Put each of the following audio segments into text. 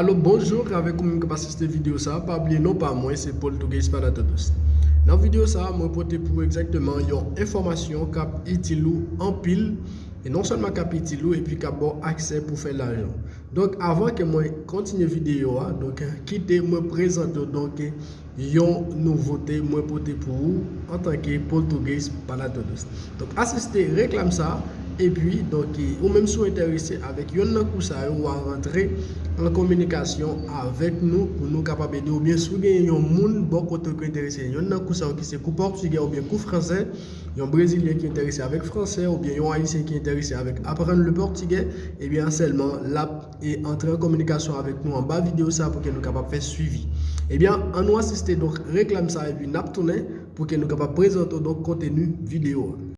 Alo bonjour avèk ou menm kap asiste video sa pa bliye non pa mwen se Poltugues para todos nan video sa mwen pote pou ou egzakteman yon enfòmasyon kap itil ou anpil e non sèlman kap itil ou epi kap baw aksè pou fè lajan donk avan ke mwen kontinye video a donk kite mwen prezante w donk Yon nouvote mwen pote pou ou antanke Poltugues para Todos. Donk asiste reklam sa a epi donk ou menm si w enterese avèk yonn nan kou sa yo wa rantre an kominikasyon avèk nou pou nou kapab ede w oubyen si w gen yon moun bò kote w ki enterese yonn nan kou sa yo ki se kou pòtigè oubyen kou fransè yon brezilyen ki enterese avèk fransè oubyen yon ayisyen ki enterese avèk aprann le portugais ebyen sèlman l ap e antre an kominikasyon avèk nou anba video sa pou ke nou kapab fè swivi. Ebyen an nou asiste donk reklam sa epi nap tounen pou ke nou kapab prezante w donk konteni video a.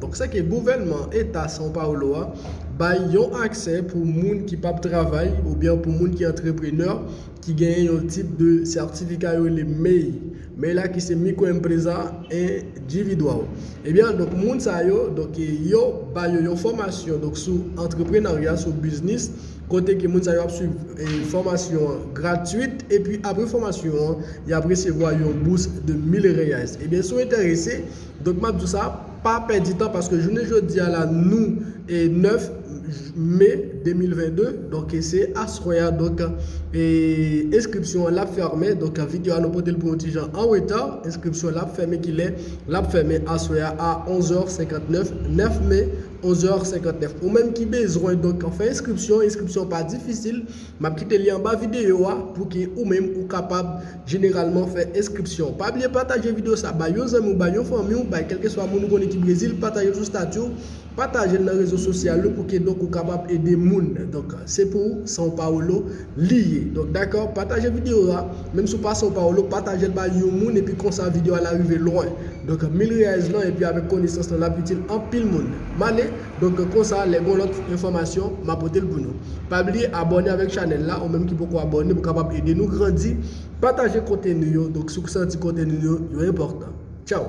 Donk se ke gouvènman eta São Paulo a bay yon aksè pou moun ki pap travay oubyen pou moun ki antreprenè ki genyen yon tip de sètifika yo rele mei, mei la ki se microempresa individual. Ebyen donk moun sa yo donk yo ba yo yon fòmasyon donk sou antreprenarya sou biznis kote ke moun sa yo ap swiv fòmasyon an gratuit epi apre fòmasyon an yap resevwa yon bous de 1000 reais. Ebyen si w enterese Donk map di w sa, pa pèdi tan paske jounen jodi a la nou 9 me 2022 donk se aswè a donk enskripsyon an lap fèmen donk video a nou pote l pou yon ti jan an reta enskripsyon lap fèmen kilè lap fèmen aswè a a 11 è 59 9 me 11 è 59 ou menm ki bezwen donk fè enskripsyon enskripsyon pa difisil Map kite li anba video a pouki ou menm ou kapab jeneralman fè enskripsyon. Pa bliye pataje video sa bay yon zanmiw bay yon fanmiw bay kelkeswa moun ou konnen ki brezil patajel sou statiw patajel nan rezo sosyal ou pouki donk ou kapab ede moun donk se pou São Paulo li ye donk dakò pataje video a menm si ou pa São Paulo patajel bay yon moun epi konsa video a la rive lwen donk mil reais lan epi avèk konesans lan lap itil anpil moun male Donk konsa lè gon lòt enfòmasyon ma potel pou nou. Pa bliye abòne avèk chanèl la ou menm ki poko abòne pou kapab ede nou grandi, pataje konteni yo donk si w santi konteni nou yo enpòtan. Tchaw!